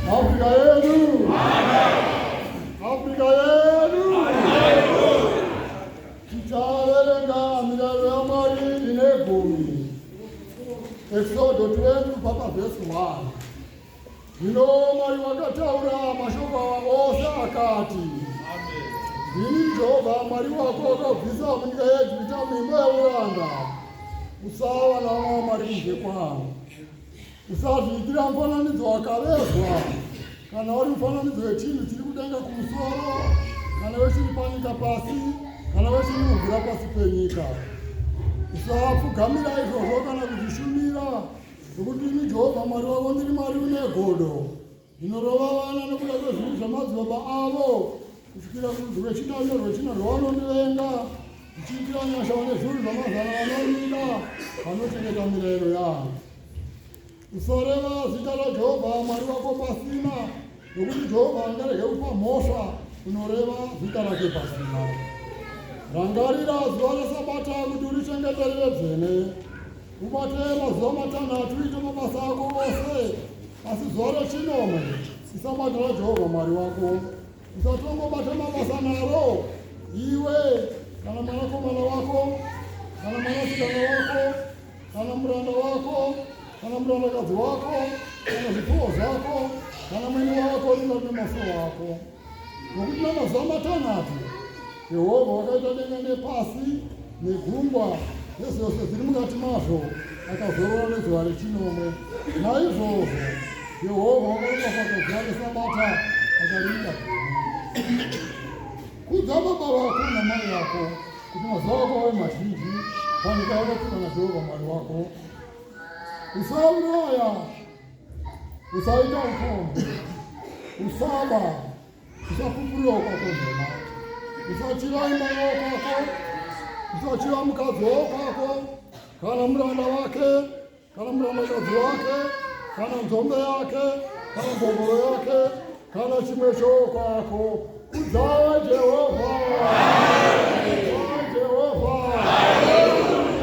Afrika yedu. Afrika yedu. Tichaverenga mirayiro yaMwari ine gumi. Eksodo 20 kubva pavhesi 1. Zvino Mwari wakataura mashoko awa ose akati, Ndini Jehovha Mwari wako akabvisa munyika yeEgipita muimba yeuranda, usava navamwe vamwari kunze kwangu. Usazviitira mufananidzo wakavezwa, kana uri mufananidzo wechinhu chiri kudenga kumusoro, kana wechiri panyika pasi, kana wechiri mumvura pasi penyika. Usapfugamira izvozvo kana kuzvishumira, nokuti ini Jehovha Mwari wako ndiri Mwari une godo. Ndinorova vana nokuda kwezvinhu zvamadzibaba avo kusvikira kurudzi rwechina nerwechina rwavanondivenga ndichiitira nyasha vane zviuru zvamazana vanorida vanochengeta mirayiro yavo usareva zita rajehovha mwari wako pasina nokuti jehovha angarege kupa mhosva unoreva zita rake pasina rangarira zuva resabata kuti urichengeterere dzene Ubatee mazuva matanhatu uite mabasa ako ose, asi zuva rechinomwe isabatira Jehovha Mwari wako. Usatongobata mabasa naro, iwe kana mwanakomana wako kana mwanasikana wako kana muranda wako kana murandakadzi wako kana zvipfuwo zvako kana mwene wako ringa nemasuwo ako. Nokuti namazuva matanhatu Jehovha wakaita denga nepasi negungwa nezvose zviri mukati mazvo, akazorora nezuva rechinomwe. Naizvozvo Jehovha wakaropafadza zuva reSabata akariita gumi. Kudza baba vako namai yako kuti mazuva ako ave mazhinji panyika yakapiwa naJehovha Mwari wako. Usauraya usaita ukombe usaba usapupurira ukakonzema usachira imba yokwako usachira mukadzi wokwako kana muranda wake kana murandakadzi wake kana nzombe yake kana mbongoro yake kana chimwe chokwako kudzawa jehovha